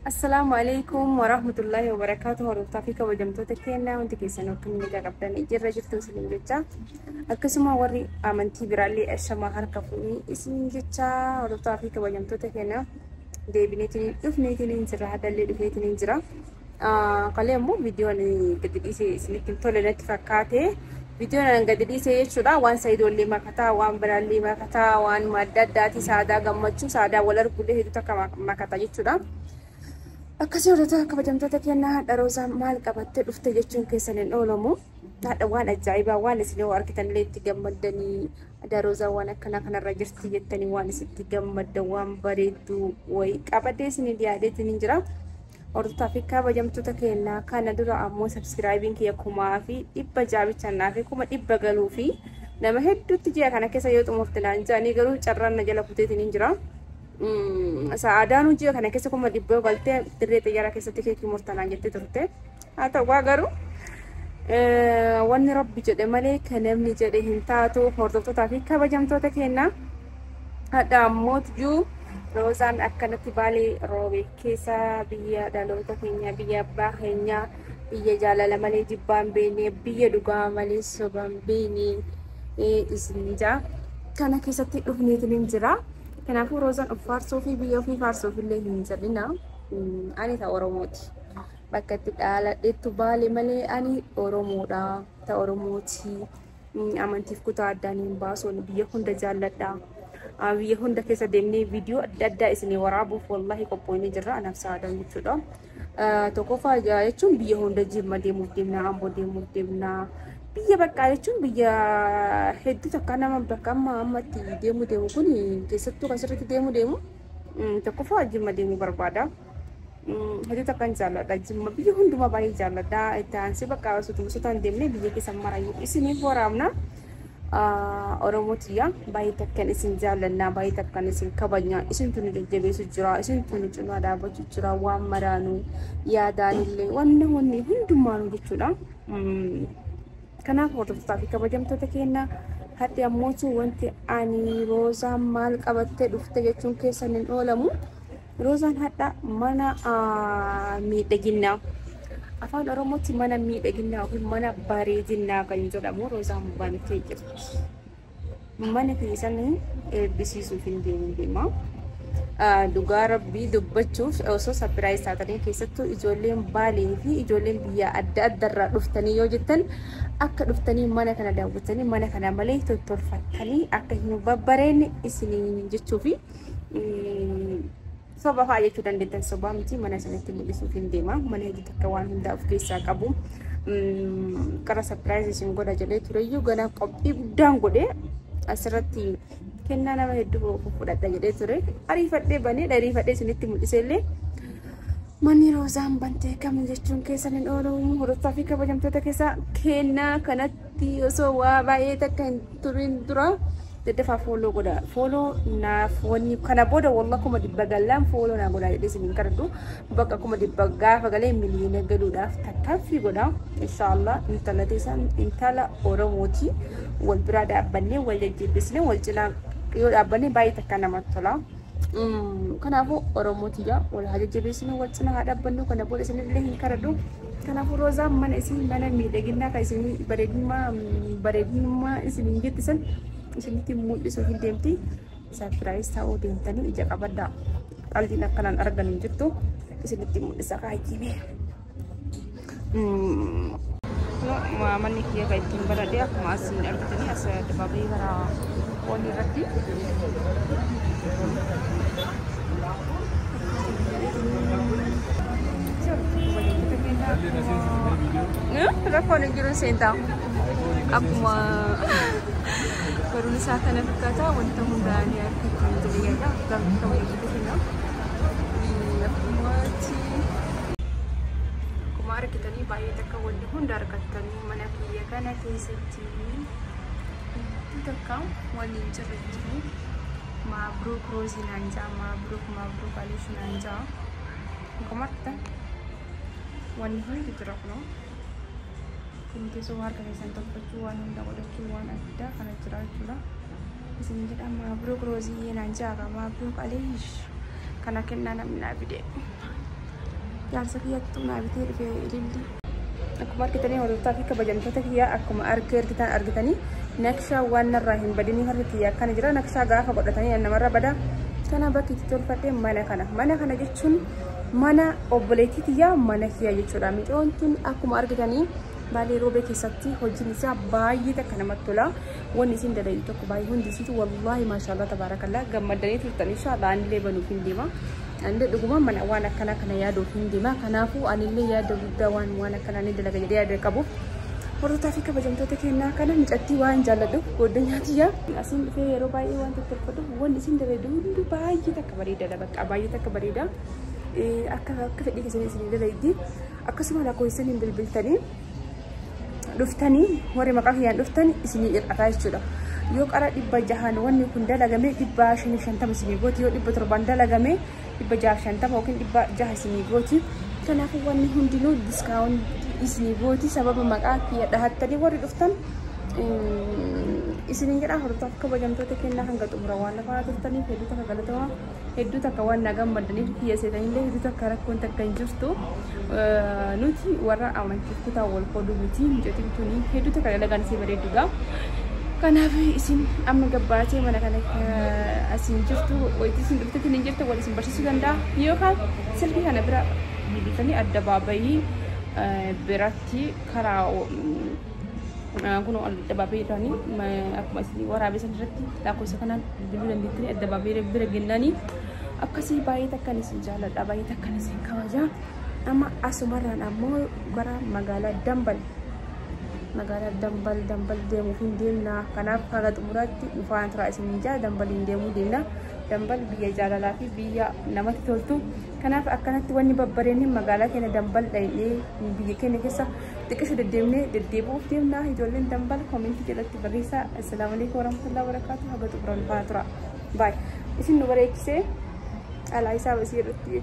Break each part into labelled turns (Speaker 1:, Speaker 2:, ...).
Speaker 1: Assalaamu alaikum warahmatullahi wabarakaatu hordoftaa fi kabajamtoota keenyaa hundi keessan akka inni qaqqabdan jirra jirtu isiniin jecha akkasuma warri amantii biraallee ashamaa harka fuunii isiniin jecha hordoftaa fi kabajamtoota keenyaa deebineetiin dhufneetiin hin jira hadallee dhufeetiin hin jira. Kalee ammoo viidiyoon gadi dhiise isinitti hin tole natti fakkaate. Viidiyoon an gadi dhiise jechuudha waan sayidoollee makataa waan biraallee makataa waan madda addaati saadaa gammachuu saadaa wal argullee hedduu takka makata jechuudha. Akkasii hordoftoota kabajamtoota kennaa hadha roozaa maal qabattee dhufte jechuun keessan hin oolamu. Hadha waan ajaa'ibaa waan isin yoo argitanillee itti gammaddanii hadha roozaa waan akkanaa kanarra jirti jettanii waan isin itti gammaddan waan bareedduu wayii qabattee isin yaadeetiin hin jira. Hordoftoota fi kabajamtoota keenya kana dura ammoo sabskiraayibiin kiyya kumaa fi dhibba ja'a bicha naaf kuma dhibba galuu fi nama hedduutti ji'a kana keessa yoo xumurte naan jedhanii garuu carraan na jala kuteetiin hin jira. Sa'aadaanuu ji'a kana keessa kuma dhibba galtee dirree xiyyaara keessatti keekii murtanaan jettee turte. haa ta'uu garuu wanni rabbi jedhe malee kan namni jedhe hin taatu hordoftootaa fi kabajamtoota keenya hadha ammootjuu roozaan akkanatti baalee roobe keessa biyya dhaloota keenya biyya abbaa keenya biyya jaalala malee jibbaan beene biyya dhugaa malee sobaan beene isin jaa kana keessatti dhufneetiin hin jira kanaafuu roozaan of faarsuu fi biyya ofii faarsuuf illee hin jedhina ani ta'a oromooti. bakka itti dhaaladheettu baale malee ani Oromoodha. Ta Oromooti. Amantiif kutaa addaan hin baasu. Biyya hunda jaalladha. Biyya hunda keessa deemnee viidiyoo adda addaa isinii waraabuuf wallaahi qophooyne jirra. Anaaf saadaan jechuudha. Tokkoffaa jechuun biyya hunda jimma deemuuf deemna, amboo deemuuf deemna. Biyya baqqaa jechuun biyya hedduu takka nama bakka amma ammatti deemuu deemu kun keessattuu kan sirriitti deemuu deemu tokkoffaa jimma deemuu barbaada. Hojii takkan jaalladha. Jimma biyya hundumaa baay'ee jaalladha. Itti aansee bakka asutuma sotaan deemnee biyya keessa marayyuu isiniif waraabna. Oromoo tiyya baay'ee takkan isin jaalladha. Baay'ee takkan isin kabajna. Isintu nu jajjabeessu jira. Isintu nu cinaa dhaabbachuu jira. Waan maraanu yaadaanillee wanni wanni hundumaanu jechuudha. Mm. Kanaaf hordoftoota fi kabajamtoota keenya har'i ammootu wanti ani roozaan maal qabattee dhufte jechuun keessan hin oolamu. Rozaan hadha mana miidhaginnaa. Afaan Oromootti mana miidhaginnaa yookiin mana bareedinnaa kan jedhamu Rozaan bantee jirti. Mana keessan eebbisiisuuf hin deemu deema. Dhugaa rabbii dubbachuuf osoo sapiraayiz taatanii keessattuu ijoolleen baalee fi ijoolleen biyya adda addarraa dhuftanii yoo jettan akka dhuftanii mana kana daawwattanii mana kana malee tottolfattanii akka hin babbareenne isiniin jechuufi. soba fa'aa jechuu dandeettan sobaa miti mana isinitti mul'isuuf hin deema mana hojii takka waan hundaa of keessaa qabu qara sapiraayiz isin godha jedhee tureyyuu gana qophii guddaan godhe asirratti kennaa nama hedduu fudhadha jedhee ture ariifadhee banee dhariifadhee isinitti mul'isee illee manni roozaan bantee kam jechuun keessan hin oolu hordofaa fi kabajamtoota keessaa kennaa kanatti Tii osoo waa baay'ee takka hin turin dura daddafaa fooloo godha. Fooloo naaf wanni kana booda walla kuma dibba gallaan fooloo naa godha jedhee isin hin kadhadhu. Bakka kuma dibba gaafa galee miliyoona galuudhaaf tattaaffii godha. Inshaallah intala teessan intala Oromooti. Wal biraa dhaabbannee wal jajjabeessine wal cinaa yoo dhaabbanne baay'ee takka namatti tola. Kanaafuu Oromoo tiyyaa wal haa jajjabeessinu wal cina haa dhaabbannu kana booda isinillee hin kadhadhu. Kanaafuu Roozaan mana isin mana miidhaginaa kan isin bareedummaa bareedummaa isin hin jette san isinitti mul'isuu hin deemti. Sarpiraayis ta'uu deemtanii ija qabadhaa. Qalbiin akkanaan argan hin jirtu isinitti mul'isa kaayyimee. manni kiyya kan ittiin baradhe akkuma asiin argitanii as dabaabee bara foonii irratti rakkoon hin jiru seentaa akkuma barumsa isaa kana fakkaata wanta hundaan akka kan jireenya gaafata waliin akkuma argitanii baay'ee takka wanni hunda argattanii mana kiyya kana keessatti wanti takka wanni hin jirre hin jiru maabruuk roozii naan ja'a maabruuk maabruuk aliish naan ja'a akkuma argitan wanni hundi jira kunoo kun keessoo harka keessan tolfachuu waan hunda godhachuu waan addaa kana jira jechuudha. isin jedha maabruk roziyyee naan jaaka maabruk aliish kana kennaa namni naa fide jaarsa kiyyattuu naa bitee dhufee ililli akkuma argitanii hordoftaa fi kabajamtoota kiyyaa akkuma argee argitan argitanii naqshaa waan narraa hin badinii harka kiyya akkana jira naqshaa gaafa godhatanii namarra bada kana bakki itti tolfadhee mana kana mana kana jechuun mana obboleettii kiyyaa mana kiyyaa jechuudha micoon tun akkuma argitanii baalee roobee keessatti hojiin isaa baay'ee takka namatti tola. Wanni isin dalayin tokko baay'ee hundi isiitu wallaahi maashaallah tabaarakallaa gammaddanii turtan inshaallah anillee banuuf hin deema. Anillee dhuguma mana waan akkanaa kana yaaduuf hin deema. Kanaafuu anillee yaada guddaa waan waan akkanaa ni dalaga jedhee yaada qabuuf hordofaa fi kabajamtoota kennaa kana mucattii waan jaalladhu goddanyaa tiyya asiin dhufee yeroo baay'ee waan tattolfadhu wanni isin dalayidu hundi baay'ee takka bareedadha bakka baay'ee takka bareeda akka akka fedhii keessanii isin dalayiddi akkasuma lakkoofsaniin bilbiltanii dhuftanii warri maqaa kiyyaan dhuftan isinii ir'ataa jechuudha. Yoo qara dhibba jahan wanni kun dalagame dhibba shanii shantama isinii gooti yoo dhibba torban dalagame dhibba jaha shantama yookiin dhibba jaha isinii gooti. Kanaafuu wanni hundinuu diskaawuntii isinii gooti sababa maqaa kiyya dhahattanii warri dhuftan isinin jedha hordoftoota kabajamtoota kennaa hanga xumura waan lafaa turtaniif hedduu takka galatooma. hedduu takka waan na gammaddaniif biyya seenanillee hedduu takka rakkoon takka hin jirtu nuti warra amantii kutaa wal qooduu miti mucatiin tuni hedduu takka dalagaan isii bareedduudha. Kanaaf isin amma gabbaatee mana kana asiin jirtu wayitii isin dhuftetti hin jirtu wal isin barsiisuu danda'a yookaan silkii kana bira bilbiltanii adda baabayii biratti karaa Kun addabaabii irraanii akkuma isin waraabee san irratti lakkoofsa kanaan bilbiluu dandeettanii addabaabii bira gennanii akkasii baay'ee takkan isin jaaladha baay'ee takkan isin kabaja. Amma asumarraan ammoo gara magaalaa Dambal magaalaa Dambal Dambal deemuuf hin deemna kanaaf haga xumuraatti dhufaan turaa isin jaa Dambal hin deemuu deemna. Dambal biyya jaalalaa fi biyya namatti toltu. Kanaaf akkanatti wanni babbareenni magaalaa keenya dambal dhayee biyya keenya keessa xiqqishu deddeemnee deddeebi'uuf deemna ijoolleen dambal koomentii jalatti barreessaa assalaamu alaikum warahmatullahi wabarakaatu haga xumuran faa tura baay isin nu bareechisee alaa isaa basii irratti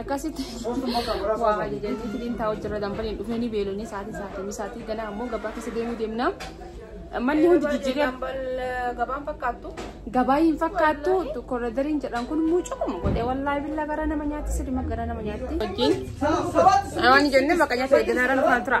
Speaker 1: akkasitti waa ajajanii filiin taa'u jirra dambaliin dhufanii beelanii sa'aatii sa'aatii misaatii ganaa ammoo gabaa keessa deemuu deemna. Manni hundi jijjiiree gabaan
Speaker 2: fakkaattu. gabaa hin
Speaker 1: fakkaattu korodariin jedhan kun mucuquma godhee wallaahi billaa gara nama nyaatti sirima gara nama nyaatti. Wajjin waan jennee bakka nyaata eegganaa irra nufaan tura.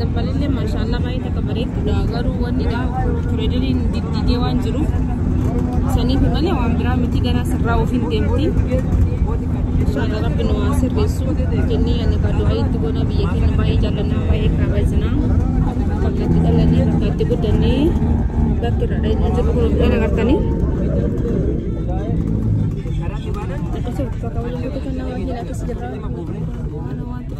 Speaker 1: Dabbalillee maashaallah baay'ee takka bareeddudha garuu wanni dha pireederiin diddiigee waan jiruuf saniif malee waan biraa miti gara sirraa ofiin deemti. Inshaallah rabbi nu waan sirreessu jennee ani kaa du'aa itti goona biyya keenya baay'ee jaallannaa baay'ee kaabajinaa bakka itti dhalannee bakka itti guddannee bakki irra dheedhuu jiru kun kan agartanii. Akkasuma uffata waliin guutuu kan nama hin akkasii jirraa.